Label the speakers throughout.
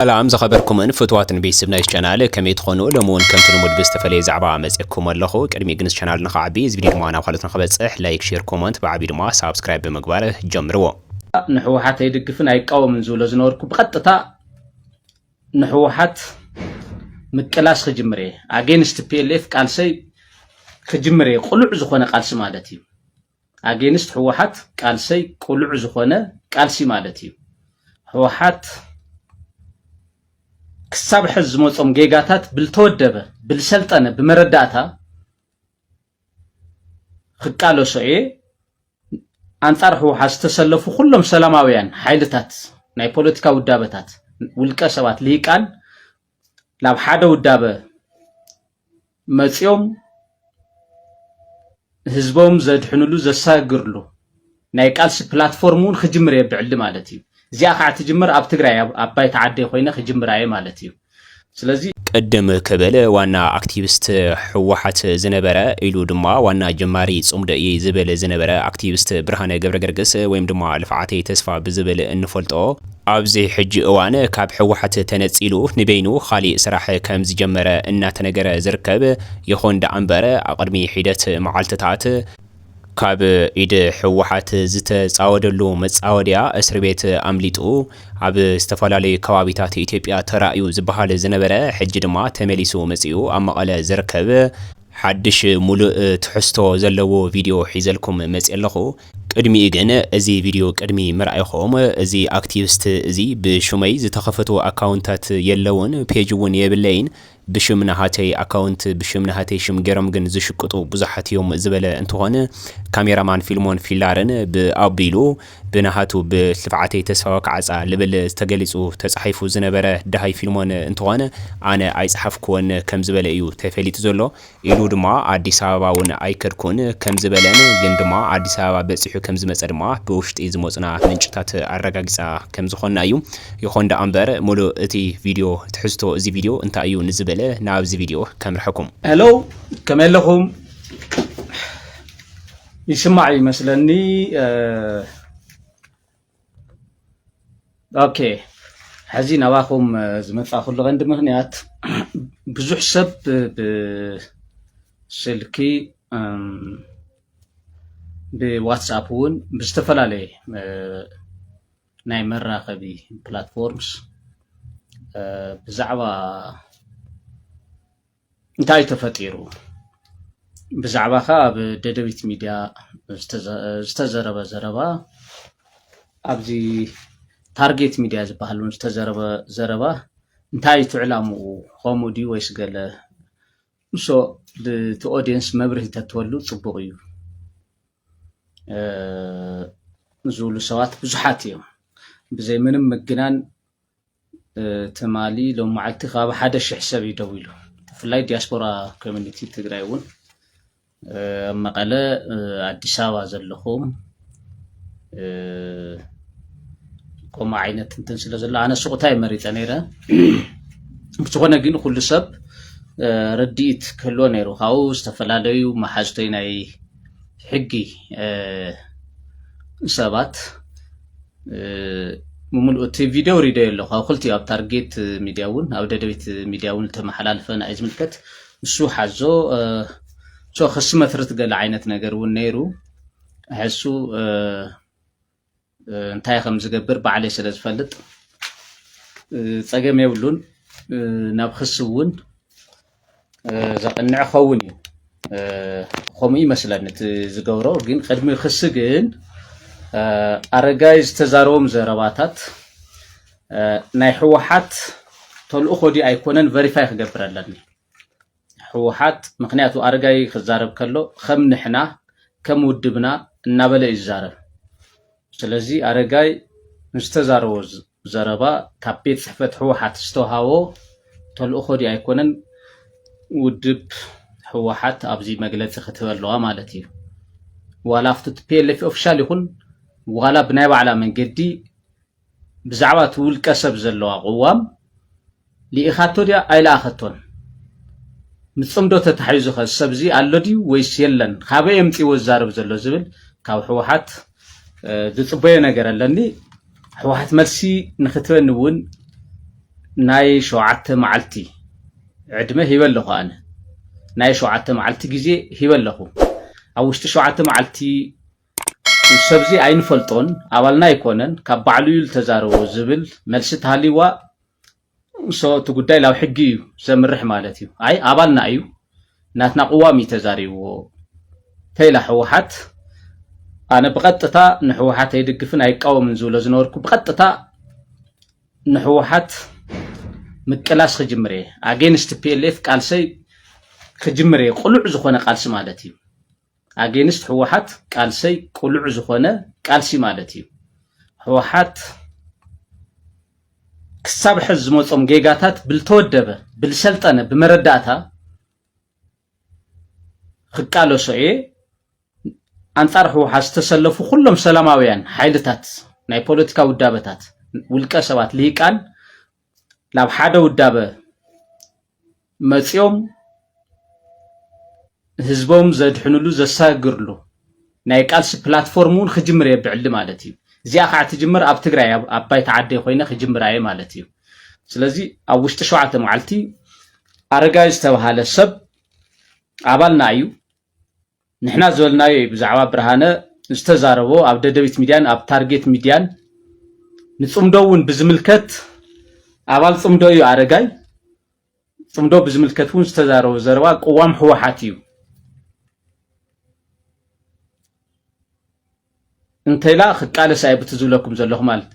Speaker 1: ሰላም ዝኸበርኩምን ፍትዋትን ቤተስብ ናይዝ ቻናል ከመይ ትኾኑ ሎሚ ውን ከምቲ ልሙድ ብዝተፈለየ ዛዕባ መጼኩም ኣለኹ ቅድሚኡ ግን እዚ ቻናል ንኽዓቢ እዚ ቪድዮ ድማ ናብ ካልኦት ንኽበጽሕ ላይክ ሼር ኮሞንት ብዓቢኡ ድማ ሳብስክራይብ ብምግባር ጀምርዎ። ንሕወሓት
Speaker 2: ኣይድግፍን ኣይቃወምን ዝብሎ ዝነበርኩ ብቐጥታ ንሕወሓት ምቅላስ ክጅምር እየ ኣጌንስት ፒኤልኤፍ ቃልሰይ ክጅምር እየ ቅሉዕ ዝኾነ ቃልሲ ማለት እዩ ኣጌንስት ህወሓት ቃልሰይ ቁሉዕ ዝኾነ ቃልሲ ማለት እዩ። ህወሓት ክሳብ ሕዝ ዝመፆም ጌጋታት ብልተወደበ ብልሰልጠነ ብመረዳእታ ክቃለሶ እየ። ኣንፃር ህወሓት ዝተሰለፉ ኩሎም ሰላማውያን ሓይልታት ናይ ፖለቲካ ውዳበታት ውልቀ ሰባት ልሂቃን ናብ ሓደ ውዳበ መፂኦም ህዝቦም ዘድሕንሉ ዘሳግርሉ ናይ ቃልሲ ፕላትፎርም እውን ክጅምር እየ ብዕሊ ማለት እዩ እዚኣ ከዓ ትጅምር ኣብ ትግራይ ኣብ ባይታ ዓደይ ኮይነ ክጅምር እየ ማለት እዩ ስለዚ ቅድም
Speaker 1: ክብል ዋና ኣክቲቪስት ህወሓት ዝነበረ ኢሉ ድማ ዋና ጀማሪ ጽምዶ እዩ ዝብል ዝነበረ ኣክቲቪስት ብርሃነ ገብረገርግስ ወይም ድማ ልፍዓተይ ተስፋ ብዝብል እንፈልጦ ኣብዚ ሕጂ እዋን ካብ ህወሓት ተነፂሉ ንበይኑ ኻሊእ ስራሕ ከምዝጀመረ እናተነገረ ዝርከብ ይኹን ደኣ እምበር ኣቕድሚ ሒደት መዓልትታት ካብ ኢድ ህወሓት ዝተፃወደሉ መፃወድያ እስር ቤት ኣምሊጡ ኣብ ዝተፈላለዩ ከባቢታት ኢትዮጵያ ተራእዩ ዝባሃል ዝነበረ ሕጂ ድማ ተመሊሱ መፂኡ ኣብ መቐለ ዝርከብ ሓድሽ ሙሉእ ትሕዝቶ ዘለዎ ቪድዮ ሒዘልኩም መፅየ ኣለኹ። ቅድሚኡ ግን እዚ ቪድዮ ቅድሚ ምርኣይኹም እዚ ኣክቲቭስት እዚ ብሹመይ ዝተኸፈቱ ኣካውንታት የለዉን ፔጅ እውን የብለይን ብሽም ናሃተይ ኣካውንት ብሽም ናሃተይ ሽም ገይሮም ግን ዝሽቅጡ ብዙሓት እዮም ዝበለ እንትኾን ካሜራማን ፊልሞን ፊላርን ብኣቢሉ ብናሃቱ ብልፍዓተይ ተስፋ ወካዕጻ ልብል ዝተገሊጹ ተጻሒፉ ዝነበረ ደሃይ ፊልሞን እንትኾን ኣነ ኣይጸሓፍኩዎን ከምዝበለ እዩ ተፈሊጡ ዘሎ። ኢሉ ድማ ኣዲስ ኣበባ ውን ኣይከድኩን ከምዝበለን ግን ድማ ኣዲስ ኣበባ በጺሑ ከምዝመጸ ድማ ብውሽጢ ዝመጹና ምንጭታት ኣረጋጊጻ ከምዝኾና እዩ። ይኾን ደኣ እምበር ሙሉእ እቲ ቪድዮ ትሕዝቶ እዚ ቪድዮ እንታይ እዩ ንዝብል ናብዚ ቪድዮ ከምርሐኩም። Hello
Speaker 2: ከመይ ኣለኹም? ይስማዕ እዩ መስለኒ ኦኬ ሕዚ ናባኹም ዝመፃእኩሉ ቀንዲ ምክንያት ብዙሕ ሰብ ብስልኪ ብዋትስኣፕ እውን ብዝተፈላለየ ናይ መራኸቢ ፕላትፎርምስ ብዛዕባ እንታይ ተፈጢሩ? ብዛዕባኻ ኣብ ደደቢት ሚድያ ዝተዘረበ ዘረባ ኣብዚ ታርጌት ሚድያ ዝበሃል እውን ዝተዘረበ ዘረባ እንታይ እቲ ዕላምኡ ከምኡ ድዩ ወይስ ገለ ንሶ እቲ ኦዲየንስ መብርሂ ተትወሉ ፅቡቕ እዩ ዝብሉ ሰባት ብዙሓት እዮም ብዘይ ምንም ምግናን ትማሊ ሎም መዓልቲ ካብ ሓደ ሽሕ ሰብ እዩ ደው ኢሉ ብፍላይ ዲያስፖራ ኮሚኒቲ ትግራይ እውን ኣብ መቐለ ኣዲስ ኣበባ ዘለኹም ከምኡ ዓይነት እንትን ስለ ዘሎ ኣነ ሱቕታ እየ መሪፀ ነይረ ብዝኾነ ግን ኩሉ ሰብ ርድኢት ክህልዎ ነይሩ ካብኡ ዝተፈላለዩ መሓዝቶይ ናይ ሕጊ ሰባት ብምሉኡ እቲ ቪድዮ ሪደዮ ኣለኹ ኣብ ክልቲኡ ኣብ ታርጌት ሚድያ እውን ኣብ ደደቢት ሚድያ እውን ዝተመሓላለፈ ንኣይ ዝምልከት ንሱ ሓዞ ሶ ክሲ መትርት ገለ ዓይነት ነገር እውን ነይሩ ሕሱ እንታይ ከም ዝገብር ባዕለይ ስለ ዝፈልጥ ፀገም የብሉን ናብ ክሲ እውን ዘቕንዕ ክኸውን እዩ ከምኡ ይመስለኒ እቲ ዝገብሮ ግን ቅድሚ ክሲ ግን ኣረጋይ ዝተዛረቦም ዘረባታት ናይ ህወሓት ተልእኾ ድዩ ኣይኮነን ቨሪፋይ ክገብር ኣለኒ ህወሓት ምክንያቱ ኣረጋይ ክዛረብ ከሎ ከም ንሕና ከም ውድብና እናበለ እዩ ዝዛረብ ስለዚ ኣረጋይ ንዝተዛረቦ ዘረባ ካብ ቤት ፅሕፈት ህወሓት ዝተውሃቦ ተልእኾ ድዩ ኣይኮነን ውድብ ህወሓት ኣብዚ መግለፂ ክትህበ ኣለዋ ማለት እዩ ዋላ ኣብቲ ፒኤልኤፍ ኦፊሻል ይኹን ዋላ ብናይ ባዕላ መንገዲ ብዛዕባ እቲ ውልቀ ሰብ ዘለዋ ቅዋም ልኢኻቶ ድያ ኣይለኣኸቶን? ምስ ጽምዶ ተታሒዙ ከ ሰብ እዚ ኣሎ ድዩ ወይስ የለን? ካበይ ኣምጺዎ ዝዛረብ ዘሎ ዝብል ካብ ህወሓት ዝጽበዮ ነገር ኣለኒ። ህወሓት መልሲ ንክትበኒ እውን ናይ ሸውዓተ መዓልቲ ዕድመ ሂበ ኣለኹ ኣነ ናይ ሸውዓተ መዓልቲ ግዜ ሂበ ኣለኹ። ኣብ ውሽጢ ሸውዓተ መዓልቲ ሰብዚ ኣይንፈልጦን ኣባልና ኣይኮነን ካብ ባዕሉ እዩ ዝተዛረቦ ዝብል መልሲ ተሃልይዋ ሶ እቲ ጉዳይ ላብ ሕጊ እዩ ዘምርሕ ማለት እዩ ኣይ ኣባልና እዩ ናትና ቅዋም እዩ ተዛሪብዎ ተይላ ሕወሓት ኣነ ብቐጥታ ንሕወሓት ኣይድግፍን ኣይቃወምን ዝብሎ ዝነበርኩ ብቐጥታ ንሕወሓት ምቅላስ ክጅምር እየ ኣጌንስት ፒኤልኤፍ ቃልሰይ ክጅምር እየ ቅሉዕ ዝኾነ ቃልሲ ማለት እዩ ኣጌንስት ህወሓት ቃልሰይ ቁሉዕ ዝኾነ ቃልሲ ማለት እዩ ህወሓት ክሳብ ሕዝ ዝመፆም ጌጋታት ብልተወደበ ብልሰልጠነ ብመረዳእታ ክቃለሶ እየ ኣንጻር ህወሓት ዝተሰለፉ ኩሎም ሰላማውያን ሓይልታት ናይ ፖለቲካ ውዳበታት ውልቀ ሰባት ልሂቃን ናብ ሓደ ውዳበ መፂኦም ህዝቦም ዘድሕንሉ ዘሳግርሉ ናይ ቃልሲ ፕላትፎርም እውን ክጅምር እየ ብዕሊ ማለት እዩ እዚኣ ከዓ ትጅምር ኣብ ትግራይ ኣብ ባይታ ዓደይ ኮይነ ክጅምር እየ ማለት እዩ ስለዚ ኣብ ውሽጢ ሸውዓተ መዓልቲ ኣረጋዊ ዝተባሃለ ሰብ ኣባልና እዩ ንሕና ዝበልናዮ እዩ ብዛዕባ ብርሃነ ዝተዛረቦ ኣብ ደደቢት ሚድያን ኣብ ታርጌት ሚድያን ንፅምዶ እውን ብዝምልከት ኣባል ፅምዶ እዩ ኣረጋይ ፅምዶ ብዝምልከት እውን ዝተዛረቦ ዘረባ ቅዋም ህወሓት እዩ እንተይላ ክቃለስ ኣየ ብቲ ዝብለኩም ዘለኹ ማለት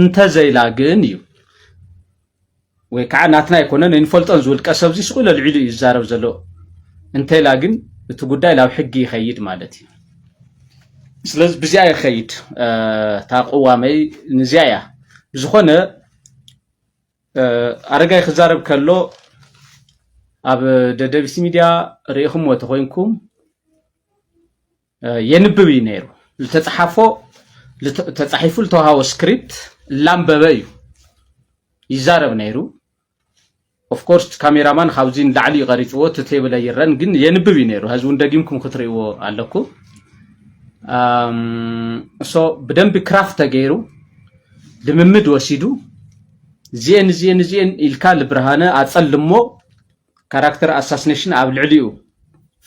Speaker 2: እንተዘይላ ግን እዩ ወይ ከዓ ናትና ኣይኮነን ኣይንፈልጦን ዝውልቀ ሰብ እዚ ስቁ ለልዒሉ እዩ ዝዛረብ ዘሎ እንተይላ ግን እቲ ጉዳይ ናብ ሕጊ ይኸይድ ማለት እዩ ስለዚ ብዚኣ ይኸይድ እታ ቅዋመይ ንዚኣ እያ ብዝኾነ ኣረጋይ ክዛረብ ከሎ ኣብ ደደቢት ሚድያ ርኢኹምዎ ተኮይንኩም የንብብ እዩ ነይሩ። ዝተፅሓፎ ተፃሒፉ ዝተውሃቦ ስክሪፕት እላንበበ እዩ ይዛረብ ነይሩ። ኦፍኮርስ ካሜራማን ካብዚ ንላዕሊ እዩ ቀሪፅዎ እቲ ቴብል ኣይረን ግን የንብብ እዩ ነይሩ። ሀዚ እውን ደጊምኩም ክትሪእዎ ኣለኩ እሶ ብደንቢ ክራፍት ተገይሩ ልምምድ ወሲዱ እዚኤን እዚኤን እዚኤን ኢልካ ልብርሃነ ኣፀልሞ ካራክተር ኣሳስነሽን ኣብ ልዕሊኡ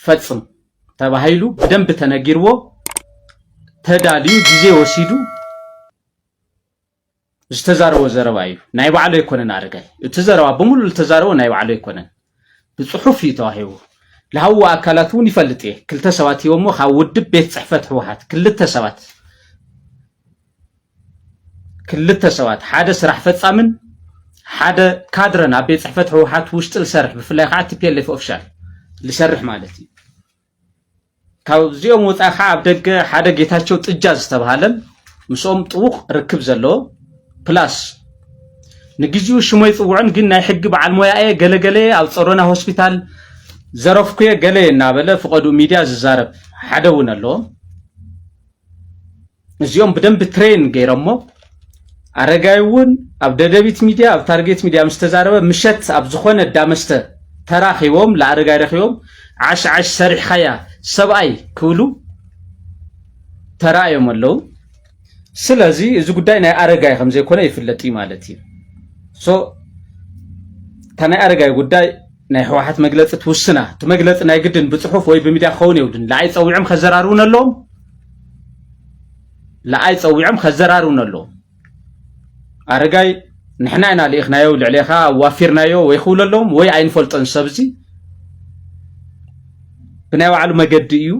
Speaker 2: ፈጽም ተባሂሉ ብደንብ ተነጊርዎ ተዳልዩ ግዜ ወሲዱ ዝተዛረቦ ዘረባ እዩ። ናይ ባዕሉ ኣይኮነን ኣረጋይ እቲ ዘረባ ብምሉእ ዝተዛረቦ ናይ ባዕሉ ኣይኮነን፣ ብፅሑፍ እዩ ተዋሂቡ። ልሃውዎ ኣካላት እውን ይፈልጥ እየ። ክልተ ሰባት ሂቦሞ ካብ ውድብ ቤት ፅሕፈት ህወሓት ክልተ ሰባት ክልተ ሰባት ሓደ ስራሕ ፈፃምን ሓደ ካድረን ኣብ ቤት ፅሕፈት ህወሓት ውሽጢ ዝሰርሕ ብፍላይ ከዓ ቲፒኤልኤፍ ኦፊሻል ዝሰርሕ ማለት እዩ ካብዚኦም ወፃኢ ከዓ ኣብ ደገ ሓደ ጌታቸው ጥጃ ዝተባሃለን ምስኦም ጥቡቕ ርክብ ዘለዎ ፕላስ ንግዚኡ ሽሞ ይፅውዕን ግን ናይ ሕጊ በዓል ሞያ እየ ገለገለ ኣብ ፀሮና ሆስፒታል ዘረፍኩየ ገለ እናበለ ፍቐዱ ሚድያ ዝዛረብ ሓደ እውን ኣለዎ እዚኦም ብደንቢ ትሬን ገይረሞ ኣረጋይ እውን ኣብ ደደቢት ሚድያ ኣብ ታርጌት ሚድያ ምስ ተዛረበ ምሸት ኣብ ዝኾነ ዳመስተ ተራኺቦም ለኣረጋይ ረኺቦም ዓሽ ዓሽ ሰሪሕኻያ ሰብኣይ ክብሉ ተራእዮም ኣለዉ ስለዚ እዚ ጉዳይ ናይ ኣረጋይ ከም ዘይኮነ ይፍለጥ እዩ ማለት እዩ ሶ እታ ናይ ኣረጋይ ጉዳይ ናይ ህወሓት መግለፂ ትውስና እቲ መግለፂ ናይ ግድን ብፅሑፍ ወይ ብሚድያ ክኸውን የብሉን ንዓይ ፀዊዖም ከዘራርቡን ኣለዎም ንኣይ ጸዊዖም ከዘራርቡኒ ኣለዉ ኣረጋይ ንሕና ኢና ልኢኽናዮ ልዕሌኻ ኣዋፊርናዮ ወይ ክብሉ ኣለዎም ወይ ኣይንፈልጦን ሰብ እዚ ብናይ ባዕሉ መገዲ እዩ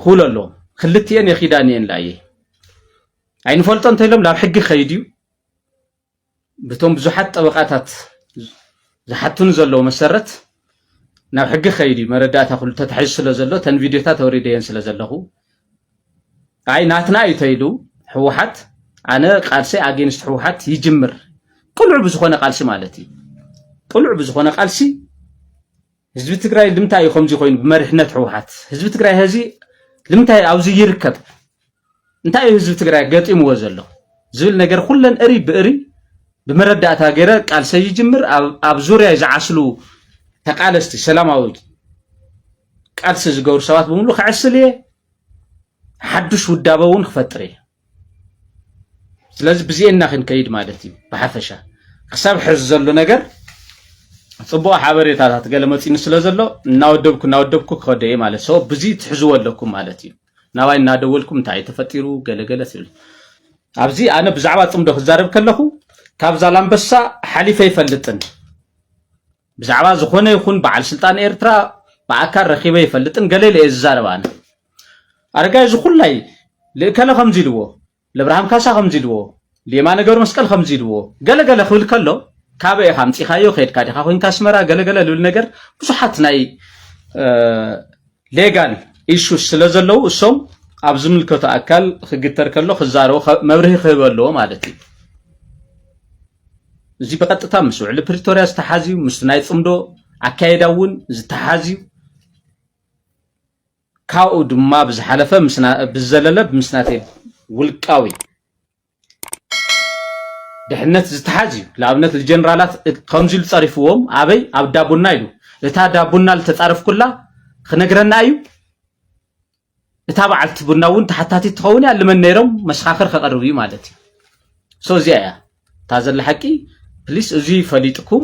Speaker 2: ክብሉ ኣለዎም ክልትኤን የኺዳን እየን ላየ ኣይንፈልጦ እንተኢሎም ናብ ሕጊ ከይድ እዩ ብቶም ብዙሓት ጠበቓታት ዝሓቱኒ ዘለዉ መሰረት ናብ ሕጊ ከይድ እዩ መረዳእታ ኩሉ ተታሒዙ ስለ ዘሎ ተን ቪድዮታት ኣውሪደየን ስለ ዘለኹ ኣይ ናትና እዩ ተይሉ ህወሓት ኣነ ቃልሲ ኣጌንስት ህወሓት ይጅምር ቅሉዕ ብዝኾነ ቃልሲ ማለት እዩ ቅሉዕ ብዝኾነ ቃልሲ ህዝቢ ትግራይ ልምታይ እዩ ከምዚ ኮይኑ ብመሪሕነት ህወሓት ህዝቢ ትግራይ ሀዚ ልምታይ ኣብዚ ይርከብ እንታይ እዩ ህዝቢ ትግራይ ገጢምዎ ዘሎ ዝብል ነገር ኩለን እሪ ብእሪ ብመረዳእታ ገይረ ቃልሰ ይጅምር ኣብ ዙርያ ዝዓስሉ ተቃለስቲ ሰላማዊ ቃልሲ ዝገብሩ ሰባት ብምሉ ክዕስል እየ ሓዱሽ ውዳበ እውን ክፈጥር እየ ስለዚ ብዚኤና ክንከይድ ማለት እዩ ብሓፈሻ ክሳብ ሕዚ ዘሎ ነገር ፅቡቅ ሓበሬታታት ገለ መፂኒ ስለ ዘሎ እናወደብኩ እናወደብኩ ክኸደ እየ ማለት ሰ ብዚ ትሕዝዎ ኣለኩም ማለት እዩ ናባይ እናደወልኩም እንታይ እዩ ተፈጢሩ ገለገለ ትብል ኣብዚ ኣነ ብዛዕባ ፅምዶ ክዛረብ ከለኹ ካብ ዛላምበሳ ሓሊፈ ይፈልጥን ብዛዕባ ዝኾነ ይኹን በዓል ስልጣን ኤርትራ ብኣካል ረኪበ ይፈልጥን ገለ ኢለ እየ ዝዛረብ ኣነ ኣረጋይ ዝኹላይ ልእከለ ከምዚ ኢልዎ ለብርሃም ካሳ ከምዚ ኢልዎ ሌማነ ገብረ መስቀል ከምዚ ኢልዎ ገለ ገለ ክብል ከሎ ካበይ ኢኻ ኣምፂኻዮ ከድካ ዲኻ ኮንካ ኣስመራ ገለገለ ዝብል ነገር ብዙሓት ናይ ሌጋል ኢሹ ስለ ዘለዉ እሶም ኣብ ዝምልከቶ ኣካል ክግተር ከሎ ክዛረቡ መብርሂ ክህበ ኣለዎ ማለት እዩ እዚ ብቐጥታ ምስ ውዕሊ ፕሪቶርያ ዝተሓዝ እዩ ምስ ናይ ፅምዶ ኣካየዳ እውን ዝተሓዝ እዩ ካብኡ ድማ ብዝሓለፈ ብዝዘለለ ምስ ናተይ ውልቃዊ ድሕነት ዝተሓዝ እዩ ንኣብነት ንጀነራላት ከምዚ ኢሉ ጸሪፍዎም ኣበይ ኣብ ዳቡና ኢሉ እታ ዳቡና ዝተጻረፍኩላ ክነግረና እዩ እታ በዓልቲ ቡና እውን ተሓታቲት ትኸውን እያ ልመን ነይሮም መሰኻኽር ከቐርብ እዩ ማለት እዩ ሶ እዚኣ እያ እታ ዘላ ሓቂ ፕሊስ እዙይ ፈሊጥኩም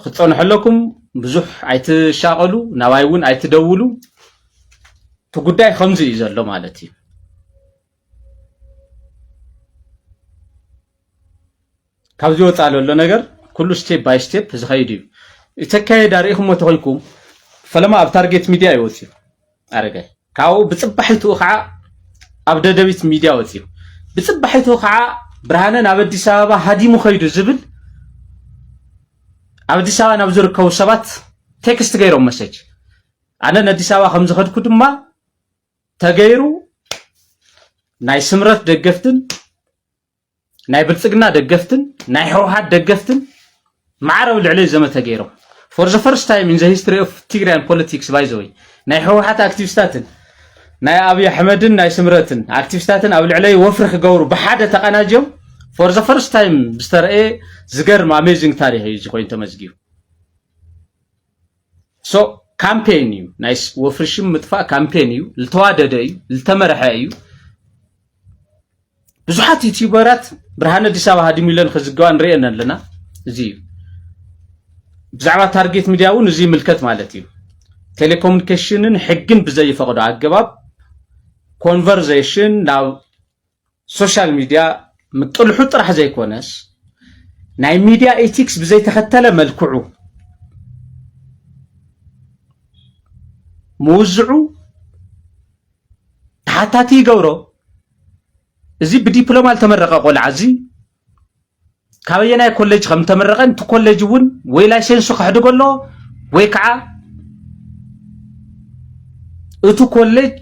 Speaker 2: ክትፀንሑ ኣለኩም ብዙሕ ኣይትሻቐሉ ናባይ እውን ኣይትደውሉ እቲ ጉዳይ ከምዚ እዩ ዘሎ ማለት እዩ ካብዚ ወፃኢ ለሎ ነገር ኩሉ ስቴፕ ባይ ስቴፕ ዝኸይድ እዩ። እቲ ኣካየዳ ርኢኹሞ ተኾይንኩም ፈለማ ኣብ ታርጌት ሚድያ እዩ ወፂኡ ኣረጋይ ካብኡ ብፅባሒትኡ ከዓ ኣብ ደደቢት ሚድያ ወፂኡ ብፅባሒትኡ ከዓ ብርሃነ ናብ ኣዲስ ኣበባ ሃዲሙ ከይዱ ዝብል ኣብ ኣዲስ ኣበባ ናብ ዝርከቡ ሰባት ቴክስት ገይሮም መሰጅ ኣነ ንኣዲስ ኣበባ ከም ዝኸድኩ ድማ ተገይሩ ናይ ስምረት ደገፍትን ናይ ብልጽግና ደገፍትን ናይ ህወሓት ደገፍትን ማዕረ ኣብ ልዕለይ ዘመተ ገይሮም ፎር ዘ ፈርስት ታይም ኢን ዘ ሂስትሪ ኦፍ ትግራያን ፖለቲክስ ባይ ዘ ወይ ናይ ህወሓት ኣክቲቪስታትን ናይ ኣብዪ ኣሕመድን ናይ ስምረትን ኣክቲቪስታትን ኣብ ልዕለይ ወፍሪ ክገብሩ ብሓደ ተቀናጅዮም ፎር ዘ ፈርስት ታይም ዝተረእየ ዝገርም ኣሜዚንግ ታሪክ እዩ እዚ ኮይኑ ተመዝጊቡ ሶ ካምፔን እዩ ናይ ወፍሪ ሽም ምጥፋእ ካምፔን እዩ ዝተዋደደ እዩ ዝተመርሐ እዩ ብዙሓት ዩቲዩበራት ብርሃነ ኣዲስ ኣበባ ሃዲሙ ኢለን ክዝገባ ንሪኤን ኣለና እዚ እዩ ብዛዕባ ታርጌት ሚዲያ እውን እዚ ይምልከት ማለት እዩ ቴሌኮሙኒኬሽንን ሕግን ብዘይፈቕዶ ኣገባብ ኮንቨርዜሽን ናብ ሶሻል ሚድያ ምጥልሑ ጥራሕ ዘይኮነስ ናይ ሚድያ ኢቲክስ ብዘይተኸተለ መልክዑ ምውዝዑ ተሓታቲ ይገብሮ። እዚ ብዲፕሎማ ዝተመረቐ ቆልዓ እዚ ካበየናይ ኮሌጅ ከም ተመረቐ እቲ ኮሌጅ እውን ወይ ላይሰንሱ ከሕድጎ ኣለዎ ወይ ከዓ እቲ ኮሌጅ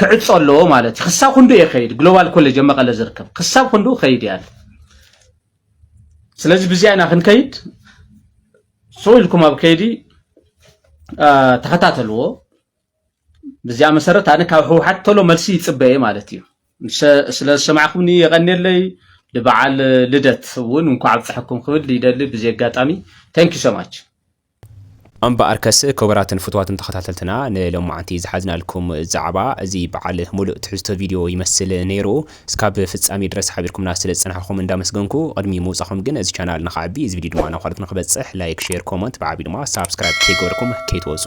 Speaker 2: ክዕፆ ኣለዎ ማለት እዩ ክሳብ ክንዱ እየ ከይድ ግሎባል ኮሌጅ ኣብ መቐለ ዝርከብ ክሳብ ክንዱ ከይድ እያ ስለዚ ብዚኣ ኢና ክንከይድ ስቕ ኢልኩም ኣብ ከይዲ ተኸታተልዎ ብዚኣ መሰረት ኣነ ካብ ህወሓት ቶሎ መልሲ ይፅበ እየ ማለት እዩ ስለ ዝሰማዕኩምኒ የቐንየለይ ንበዓል ልደት እውን እንኳዕ ኣብፀሐኩም ክብል ይደሊ ብዚ ኣጋጣሚ ታንክ ዩ ሰማች
Speaker 1: እምበኣርከስ ክቡራትን ፍትዋትን ተኸታተልትና ንሎማዓንቲ ዝሓዝናልኩም ዛዕባ እዚ በዓል ሙሉእ ትሕዝቶ ቪድዮ ይመስል ነይሩ። እስካብ ፍጻሜ ድረስ ሓቢርኩምና ስለ ዝጸናሕኹም እንዳመስገንኩ ቅድሚ ምውጻኹም ግን እዚ ቻናል ንኽዓቢ እዚ ቪድዮ ድማ ናብ ካልኦት ንኽበጽሕ ላይክ፣ ሼር፣ ኮመንት ብዓቢ ድማ ሳብስክራይብ ከይገበርኩም ከይትወጹ።